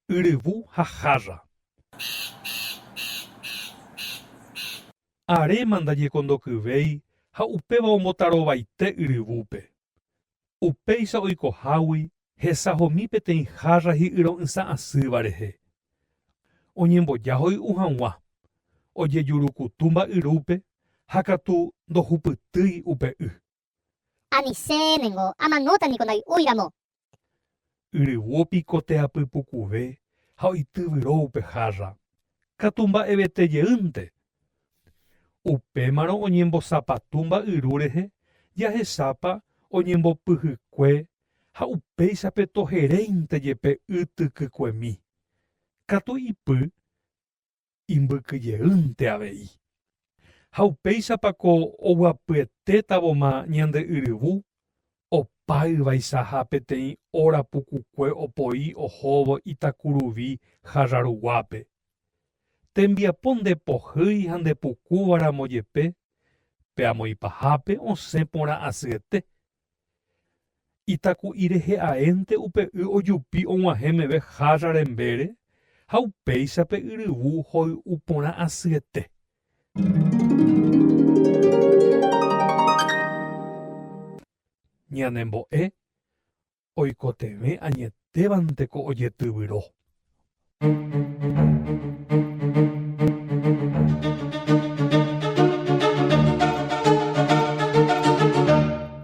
Yryvu ha jarra. Aréma ndañekondokyvéi ha upéva ombotarovaite yryvúpe. Upéicha oikohágui hesahomi peteĩ hárra hi'yro'ysã asýva rehe. Oñemboja hoy'u hag̃ua, ojejurukutu mba'yrúpe ha katu ndohupytýi upe y. Anicé ningo amanóta niko ndai'úiramo. Yryguo piko teapy pukuve ha oityvyro upe hárra, katu mba'evete jeýnte. Upémarõ oñembosapatu mba'yru rehe jahechápa oñembopyhykue ha upéichape toheréinte jepe y tykykuemi, katu ipy imbykyjeýnte avei. Ha upéichapa ko oguapyetétavoma ñande yryvu opa yvaisaha peteĩ óra pukukue opoi ohóvo Itakuruvi Jarraruguápe. Tembiapo nde pohýi ha nde pukúva ramo jepe, pe amoĩ pahápe osẽ porã asyete, Itaku'i rehe aénte upe y ojupi og̃uahẽ meve hárra rembére ha upéicha pe yryvu hoy'u porã asyete. Ñanembo'e oikotevẽ añetévante ko ojetyvyro.